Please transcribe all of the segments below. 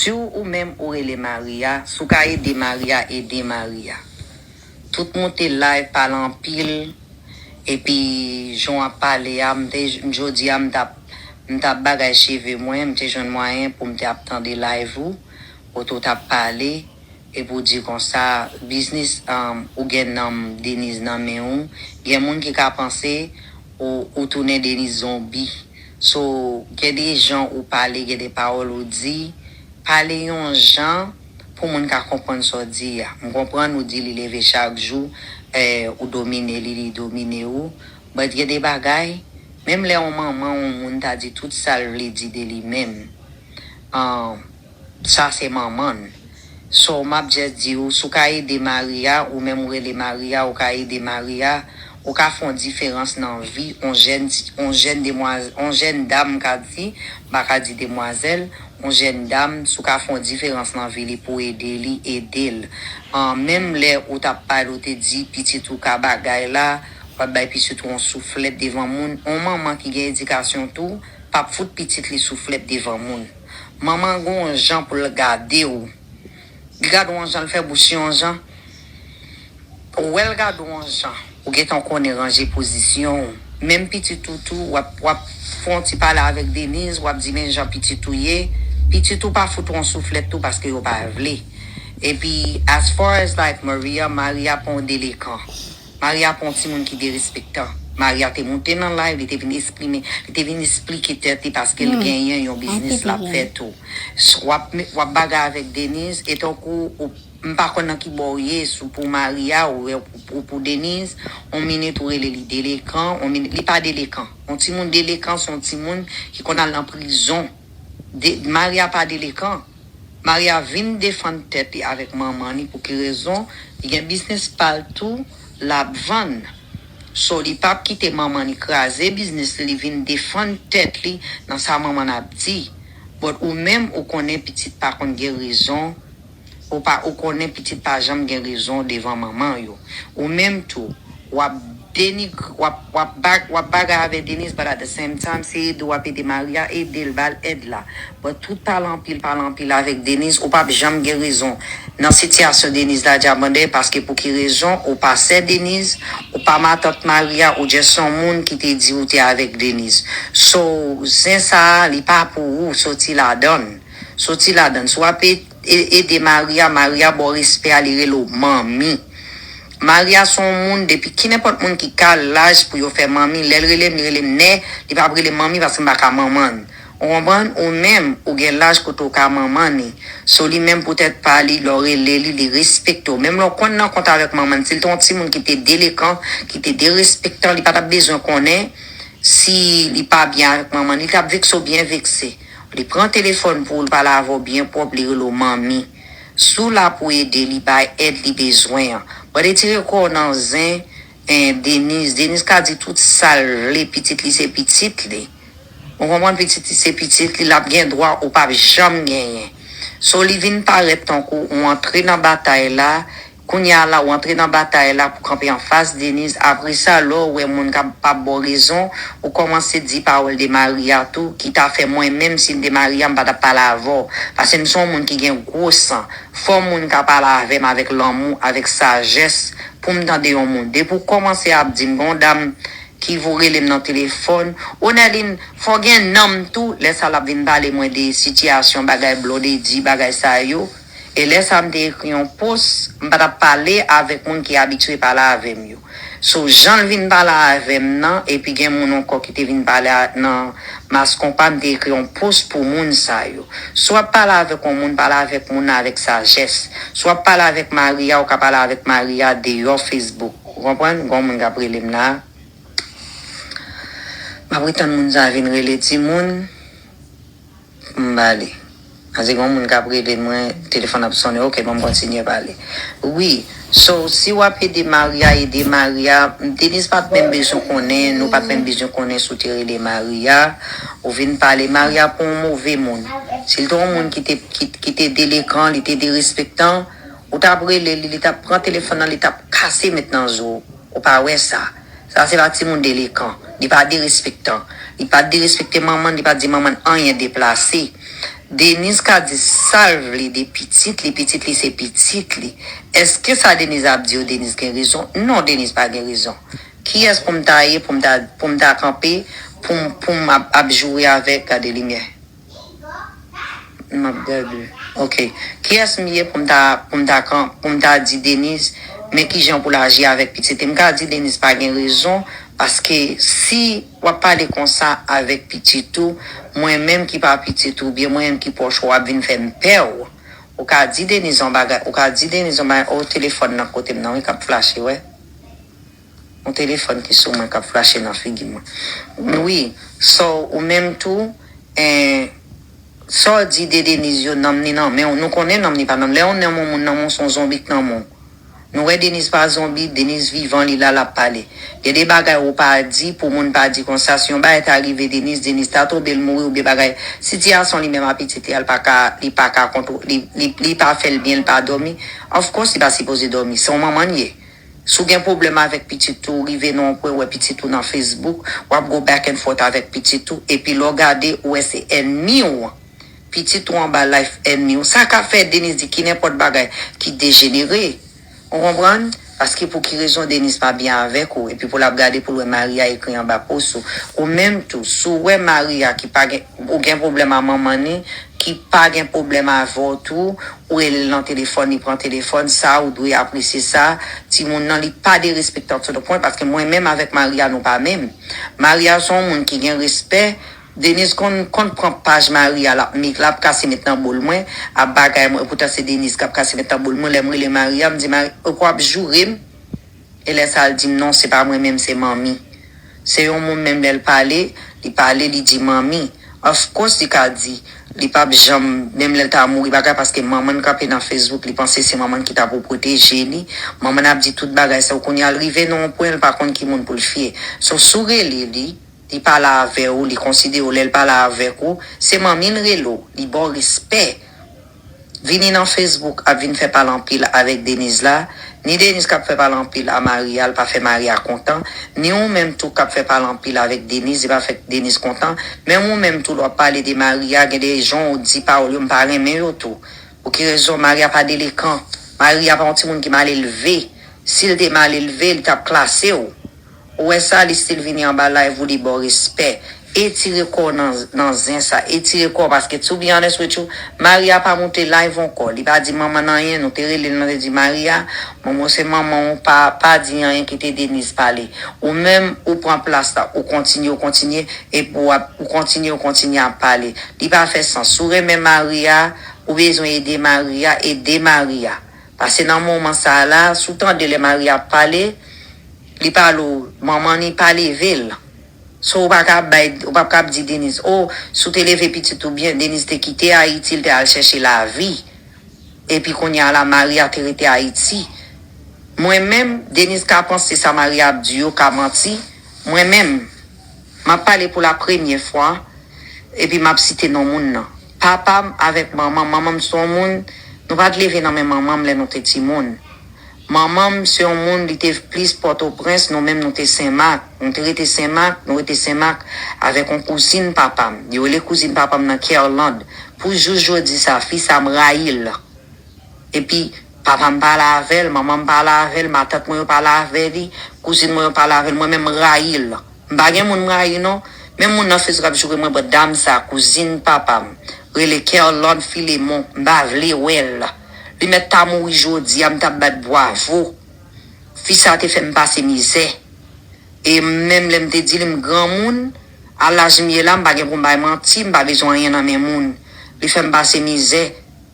Si w ou menm ou rele Maria si w ka ede Maria ede Maria tout moute live pale anpil epi jan w ap pale a m te jodi a m t ap m t ap bagay cheve mwen m te jwenn mwayen pou m te ap tande live ou kote w t ap pale Epi ou di konsa, biznis ou gen nanm Deniz nan men ou, gen moun ki ka panse ou ou tounen Deniz zonbi. So gen de jan ou pale, gen de pawòl ou di, pale yon jan pou moun ka konprann sa w di a. M konprann ou di li leve chak jou ou domine li, li domine ou, but gen de bagay, menm lè yon manman yon moun ta di tout sa l vle di de li menm, Sa se manmann. Sow map just diw sou ka ede Maria ou menm ou rele Maria ou ka ede Maria ou ka fon diferans nan vi on jèn on jèn demwaz on jèn dam m ka di m pa ka di demwazèl on jèn dam sou ka fon diferans nan vi li pou ede li edel an menm lè ou tap pale ou te di pitit ou ka bagay la wap bay pitit ou on souflèt devan moun on manman ki gen edikasyon tou pap fout pitit li souflèt devan moun. Manman gon on jan pou l gade w Li gade w on jan l fè bouch li on jan Ou wè l gade w on jan Ou gen tan w konnen ranje pozisyon w Menm pitit ou tou wap wap fè on ti pale avèk Deniz wap di men jan pitit ou ye Pitit ou pa fout w on souflèt tou paske yo pa vle Epi as far as like Maria Maria pa on delekan Maria pa yon timoun ki derespektan. Maria te moute nan live li te vin esprime, li te vin esplike tèt li paskel genyen yon biznis lap fè tou. Wap bagay avèk Denise e tankou ou m pa konn nan ki bò ou ye sou pou Maria ou pou Denise, on minit ou rele li delekan, on minit li pa delekan. On timoun delekan son timoun ki konn al nan prizon. Maria pa delekan. Maria vin defann tèt li avèk manman li pouki rezon li gen biznis pal tou lap vann so li pap kite manman li kraze biznis li li vin defann tèt li nan sa manman ap di but ou menm ou konnen pitit pa konn gen rezon ou pa ou konnen pitit pa janm gen rezon devan manman yo ou menm tou Wap denigr wap wap bag wap bagay avè Deniz but at the same time se ede wap ede Maria edel bal èd la but tout pale anpil pale anpil avèk Deniz ou pap janm gen rezon nan sitiyasyon Deniz la Diamande paske pou ki rezon ou pa sè Deniz ou pa matant Maria ou just yon moun ki te di ou te avèk Deniz so zen sa li pa pou ou soti ladann soti ladann si wap ede Maria Maria baw respè a li rele w manmi Maria son moun depi kinenpòt moun ki ka laj pou yo fè manmi lèl relem li relem nè li pap relem manmi paske m pa ka manmann ou konprann ou menm ou gen laj kote ou ka manmann li so li menm pou tèt pa li lè w rele li li respekte w menm lè w konn nan kont avèk manmann si l te yon timoun ki te delekan ki te derespektan li pa tap bezwen konnen si li pa byen avèk manmann li tap vekse w byen vekse li pran telefòn pou ou l pale avè w byen pwòp li rele w manmi. Si w la pou ede li bay èd li bezwen an. Bon etire kò w nan zen en Denise, Denise ka di tout sal vle pitit li se pitit li ou konprann pitit li se pitit li lap gen dwa ou pap janm genyen so li vin parèt tankou ou antre nan batay la Kounya a la ou antre nan batay la pou kanpe anfas Denise apresa lè w wè moun kap pa baw rezon ou kòmanse di pawòl de Maria tou ki ta fè mwen menm sim te Maria m pa tap pale avè w pase m se yon moun ki gen gwo san fò moun ka pale avè m avèk lanmou avèk sajès poum tande yon moun depi w kòmanse ap dim gen yon dam ki vou rele m nan telefòn o Nèlin fò gen nanm tou lè sa lap vin pale mwen de sitiyasyon bagay Blondedy bagay sa yo. E lè sa m te ekri yon post, m pa t ap pale avèk moun ki abitye pale avè m yo. So jan l vin pale avè m nan epi gen moun ankò ki te vin pale nan Mass Konpa m te ekri yon post pou moun sa yo. Si w ap pale avèk yon moun pale avèk moun nan avèk sajès. Si w ap pale avèk mari a ou ka pale avèk mari a deyò Facebook. Ou konprann? Gon moun k ap rele m la. M ap retann moun sa vin rele timoun. M ba li. An di gen yon moun k ap rele l mwen, telefòn ap sonnen ok bon m kontinye ba li. Wi, so si w ap ede Maria ede Maria, Deniz pa t menm bezwen konnen, nou pa t menm bezwen konnen si w te rele Maria, ou vin pale Maria pou yon move moun. Si l te yon moun ki te ki te delekan, li te derespektan, ou t ap rele li, li t ap pran telefòn nan li t ap kase met nan zo w. Ou pa wè sa. Sa se pa timoun delekan. Li pa derespektan. Li pa derespekte manman, li pa di manman anyen deplase. Deniz ka di sa l vle de pitit li, pitit li se pitit li. Eske sa Deniz ap di yo Deniz gen rezon? Non Deniz pa gen rezon. Kiyès pou m ta ye pou m ta kanpe pou m ap joure avèk gade limyè? Map gade ok kiyès m ye pou m ta pou m ta kan pou m ta di Deniz men kijan pou l aji avèk pitit li m ka di Deniz pa gen rezon paske si wap pale konsa avèk pitit ou mwen menm ki pa pitit ou oubyen mwen menm ki pwòch ou wap vin fè m pè w ou ka di Deniz yon bagay ou ka di Deniz yon bagay oo telefòn nan kote m nan wi kap flache wè. Yon telefòn ki sou mwen kap flache nan figi mwen wi so ou menm tou en Sa w di de Denise yo nanm ni nan menw nou konnen nanm ni pa nanm lè yon nanm yon moun nan menw son zonbi k nan menw nou wè Denise pa zonbi Denise vivan li la lap pale gen de bagay ou pa di pou moun pa di konsa si yon bagay ta rive Denise Denise ta tonbe l mouri oubyen bagay sitiyasyon li menm a pitit li paka li paka kontwole li li pa fèl byen li pa dòmi of course li pa sipoze dòmi se yon manman l ye. Si w gen pwoblèm avèk pitit ou, rive nan yon pwen ou wè pitit ou nan Facebook, w ap go back and forth avèk pitit ou, epi lè w gade, ou wè se ènmi w, pitit ou anba life ènmi w, sa ka fè Deniz di ki nenpòt bagay ki dejenere. Ou konprann? Paske pou ki rezon Deniz pa byen avèk ou, epi pou l ap gade pou l wè Maria ekri anba post ou. Ou menm tou, si w wè Maria ki pa gen, ou gen pwoblèm a manman li, ki pa gen pwoblèm avè w tou, Ou relel nan telefòn li pran telefòn sa ou dwe apresye sa timoun nan li pa derespektan to de pwen paske mwen menm avèk Maria nou pa menm Maria son moun ki gen respè Denise konn konn pran paj Maria lap mik lap kase met nan bol mwen ap bagay mwen epoutan se Denise kap kase met nan bol mwen lèm rele Maria mdi Maria ok wap jourem E lè sa l di m non se pa mwen menm se manmi. Se yon moun menm lè l pale, li pale li di manmi. Of course li ka di, li pa p janm, menm lè l ta mouri bagay paske manman n kanpe nan Facebook li panse se manman n ki ta pou pwoteje li. Manman n ap di tout bagay sa yo kounye a l rive nan yon pwen l pa konn ki moun pou l fye. So si w rele li, li pale avè w, li konsidere w lè l pale avèk ou, se manmi l rele w, li ba w respè. vini nan Facebook ap vin fè pale anpil avèk Deniz la, ni Deniz kap fè pale anpil a mari a l pa fè mari a kontan, ni ou menm tou kap fè pale anpil avèk Deniz li pa fè Deniz kontan, menm ou menm tou lè wap pale de mari a gen de jan ou di pawòl yo m pa renmen yo tou, pou ki rezon mari a pa delekan, mari a pa yon timoun ki malelve, si l te malelve li tap klase w. Ou wè sa li stil vini anba live ou li baw respè etire kòw nan nan zen sa etire kòw paske to be honest with you Maria pa moute live ankò li pa di manman n anyen nou te relel mwen te di Maria mwen mwen se manman w pa pa di anyen kite Denise pale ou menm ou pran plas la ou kontinye ou kontinye ep ou ap ou kontinye ou kontinye ap pale li pa fè sans si w renmen Maria ou bezwen ede Maria ede Maria Pase nan moman sa la, si w tande lè Maria ap pale, li pale w manman ni pa leve l. So ou pa ka ap bay, ou pap ka ap di Denise, oh, si w te leve pitit ou byen, Denise te kite Ayiti, l te al chèche lavi. Epi kounye a la, Maria te rete Ayiti. Mwen menm, Denise ka panse sa Maria ap di yo ka manti, mwen menm, m ap pale pou lapremye fwa, epi m ap site non moun nan. Papa m avèk manman m Manman m se yon moun Nou pa t leve nan men manman m lè nou te timoun Manman m se yon moun li te v plis Pòtoprens Nou menm nou te Senmak Nou te rete Senmak Nou rete Senmak avèk yon kouzin papa m Yo rele kouzin papa m nan Kerlande Pou jous jodi sa a fi sa a m rayi l Epi papa m pa la avè l Manman m pa la avè l Matant mwen yo pa la avè li Kouzin mwen yo pa la avè l Mwen menm m rayi l M pa gen moun m rayi non, men moun nan fezw kap joure mwen bò dam sa kouzin papam rele Kerlande Philemon m pa vle wèl li mèt ta mouri jodia m tap bat bwavo fi sa te fèm pase mizè e menm lèm te di li m granmoun a laj m ye la m pa gen poum bay manti m pa bezwen anyen nan men moun li fèm pase mizè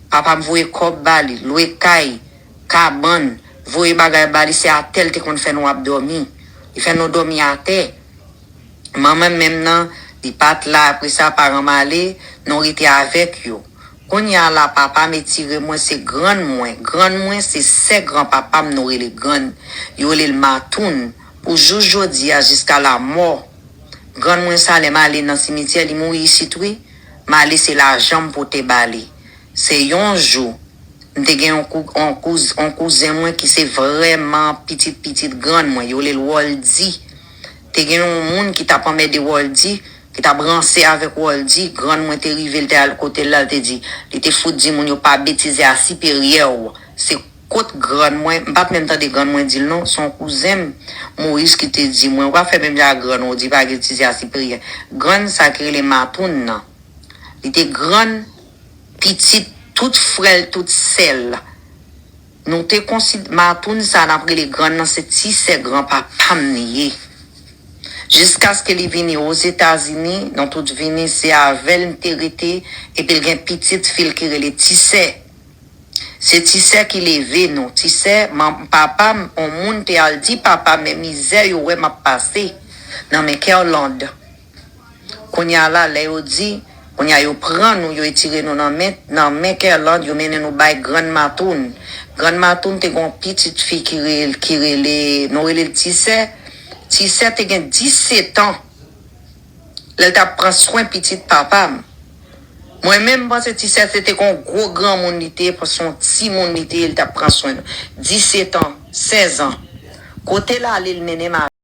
papam voye kòb ba li lwe kay kabann, voye bagay ba li se atè l te konn fè nou ap dòmi. Li fè nou dòmi atè. Manman m menm nan, li pa t la apre sa paran m ale, nou rete avèk yo. Kounye a la papa m etire mwen se grann mwen, grann mwen se sè gran papa m nou rele grann, yo rele l matoun pou jous jodi a jiska lamò grann mwen sa lè m ale nan simityè li mouri isit wi, m ale se lajan m pote ba li. Se yon jou, m te gen yon yon kouzen mwen ki se vrèman pitit pitit grann mwen, yo rele l Wòldi. Te gen yon moun ki t ap anmède Wòldi, ki t ap ranse avèk Wòldi. Grann mwen te rive, l te al kote l la, l te di, li te fout di moun yo pa betize a siperyè w. Se kot grann mwen, m pa t menm tande grann mwen di l non, se yon kouzen m, Moyiz ki te di mwen, ou pa fè menm jan ak grann ou, ou di pa getize a siperyè. Grann sa ki rele Matoun nan. Li te grann pitit tout frè l tout sè l. Nou te konsid Matoun sa n ap rele grann nan se ti sè granpapa m li ye. Jiskaske li vini Ozetazini, nou tout vini se avè l m te rete epi l gen pitit fi l ki rele ti sè. Se ti sè ki leve nou. Ti sè man papa m on moun te al di papa men mizè yo wè m ap pase nan men Kerlande. Kounya la lè yo di Kounya yo pran nou yo etire nou nan men nan men kerlande yo mennen nou bay grann matoun grann matoun te gen yon pitit fi ki rel ki rele nou rele l tisè tisè te gen 10 setan lèl tap pran swen pitit papa m mwen menm m panse tisè se te kon gwo granmoun li te se yon ti moun li te li tap pran swen nou 10 setan 16 an kote l ale l mennen m a.